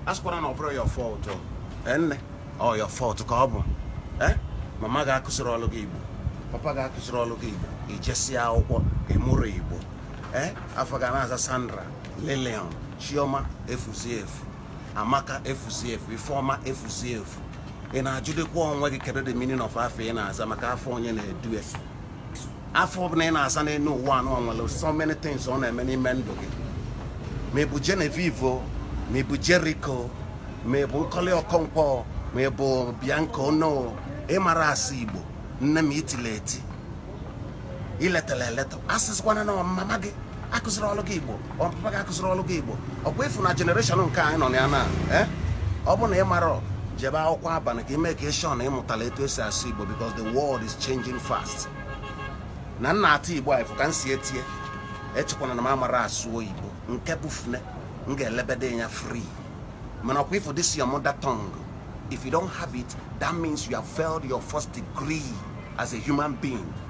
asịkwana na ọ bụrọ your fault eh, nne ọ your fault ka ọ bụ eh, mama gị akụzirọlụ gị igbo papa gị akụzirọlụ gị igbo ijesịa akwụkwọ ịmụrọ igbo eh, afa ọ ga na-aza sandra lilian chioma efuzi efu amaka efuzi efu ifeọma efuzi efu ị na-ajụdịkwa onwe gị kedu the meaning of afa ị na-aza maka afa onye na-edu afa ọbụla ị na-aza n'elu ụwa anụ nwere so many things ọ na-eme n'ime ndụ gị ma ịbụ Genevieve ma ịbụ Jericho ma ịbụ Nkọli Ọkọnkwọ ma ịbụ Bianca Onoh ịmarọ asụ Igbo nne m itile eti iletara eleta asịsịkwana na mama gị akụzirọlụ gị igbo papa gị akụzirọlụ gị igbo ọkwa ịfụ na generation nke anyị nọ na ya na eh? ọ bụ na ị marọ jebe akwụkwọ abalị ka ị make sure na ịmụtala etu esi asụ igbo because the world is changing fast na m na-asụ igbo a ịfụ ka m si etie echekwana na m amarọ asụ oyibo nke bụ fọne m ga-elebede ya free mana ọkwa ịfụ this your mother tongue if you don't have it that means you have failed your first degree as a human being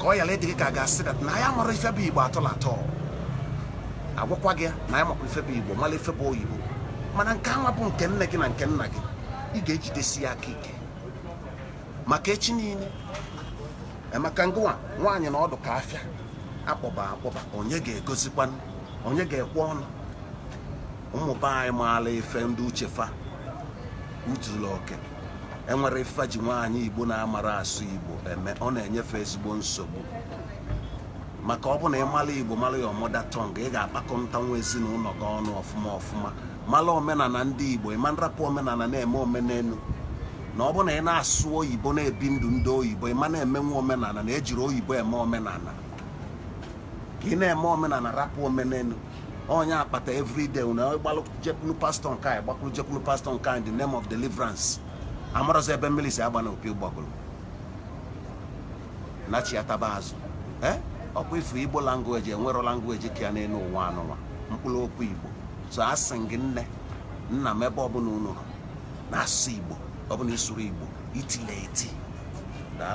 ka ọ yara ịdị gị ka a ga-asị that na ya marọ ife bụ igbo atọla atọ agwakwa gị na ya makwa ife bụ igbo mara ife bụ oyibo mana nke anwa bụ nke nne gị na nke nna gị ị ga-ejidesi ya aka ike maka echi niile maka na ụwa nwaanyị na ọ dị ka afịa akpọba akpọba onye ga-egozikwa onye ga-ekwe ọnụ ụmụ be anyị maala ife ndị uche fa zuru oke enwerọ ife e ji nwaanyị igbo na-amarọ asụ igbo eme ọ na-enyefe ezigbo nsogbu maka ọ bụ na ịmala igbo mara your mother tongue ị ga-akpakọtanwu ezinụlọ gị ọnụ ọfụma ọfụma mara omenala ndị igbo ịma na-arapụ omenala na-eme omenelu na ọ bụ na ị na-asụ oyibo na-ebi ndụ ndị oyibo ịma na-emenwu omenala na ejirọ oyibo eme omenala ka ị na-eme omenala rapụ omenelu ọ nya kpata everyday na ị gbalụ jekwulu pastor nke a ị gbakwulu jekwulu pastor nke a in the name of deliverance amarọzi ebe mmiri si aba na opi ụgbọgụlụ nachiataba azụ eh? ọkwa ifu igbo language enwerọ language ka ya n'elu ụwa anụnwa mkpụrụ okwu igbo so asị m gị nne nna m ebe ọbụla unu nọ na-asụ igbo ọ bụ na ịsụrọ igbo itile eti daalụ